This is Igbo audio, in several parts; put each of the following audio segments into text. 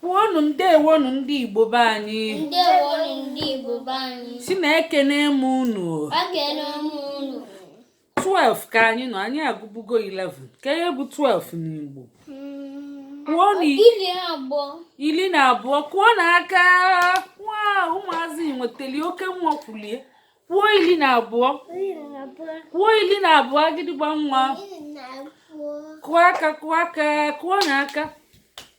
Kwuonụ ndewonụ ndị Igbo be anyị. Ndewonụ ndị Igbo be anyị. Sini ekene m unu. Ekene m unu. 12 ka anyị nọ anyị agụbugo 11 kee ihe bụ 12 n'Igbo. Hmm. Kwuonụ iri na abụọ. Iri na abụọ kụọnụ aka wow ụmụazị nwetali oke nwa kwulie. Kwuo iri na abụọ. Kwuo iri na abụọ agịdịgba nwa. Kụọ aka kụọ aka kụọnụ aka.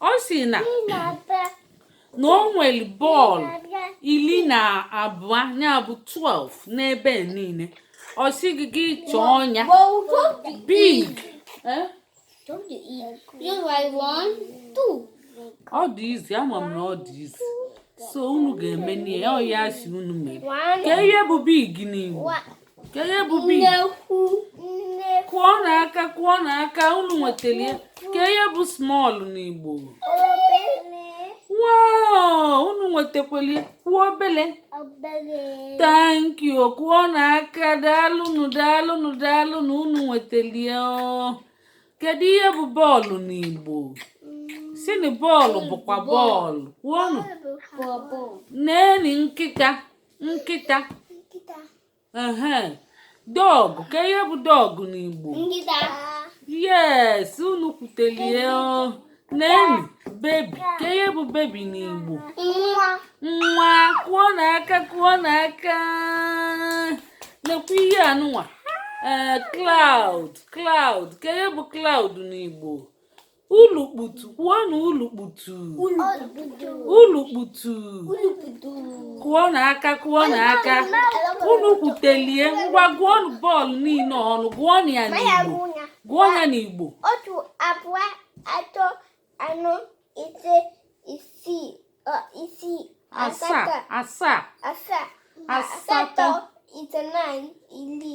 ọ si na na o nwere bọọlụ iri na abụọ ya bụ 12 n'ebe niile ọ sị gị gị chọọ ọnya big eh? ọ dị easy ama m na ọ dị easy so unu ga-emeni ihe ọ ya si unu mee kee ihe bụ big n'Igbo kee ihe bụ big kụọnụ aka kụọnụ aka unu nwetara ya kee ihe bụ small n'igbo wow unu nwetakwali kwuo obele thank you kụọnụ aka daalụnụ daalụnụ daalụnụ unu nwetara ya kedu ihe bụ bọọlụ n'igbo sini bọọlụ bụkwa bọọlụ kwuonụ neni nkịta nkịta ehe dog kee ihe bụ dog n'igbo yes unu kwutelie neni baby kee ihe bụ baby n'igbo nwa kụọnụ aka kụọnụ aka nekwa ihe anụnwa ee eh, cloud cloud kee ihe bụ cloud n'igbo Ulukputu, kwuonụ ulukputu. Ulukputu. Kụọnụ aka, kụọnụ aka. Unu kwutelie ngwa gụọnụ bọọlụ niile ọnụ, gụọnụ ya n'Igbo. Gụọ ya n'Igbo. Otu abụọ atọ anọ ise isii isii asaa asaa asaa asatọ itenaị iri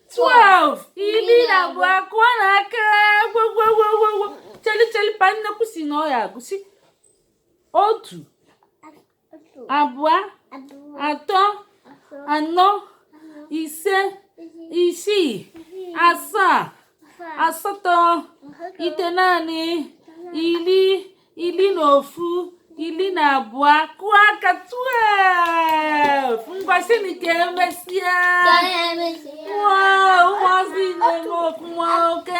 12 iri na abụọ kụọnụ aka gwogwogwogwo chelicheli pa nnekwu si na ọ ya agụsi otu abụọ atọ anọ ise isii asaa asatọ itenaanị iri ili na ofu ili na abụọ kụọ aka 12 ngwa sini ka emesịa ụmụazị na-eme ọfụma oke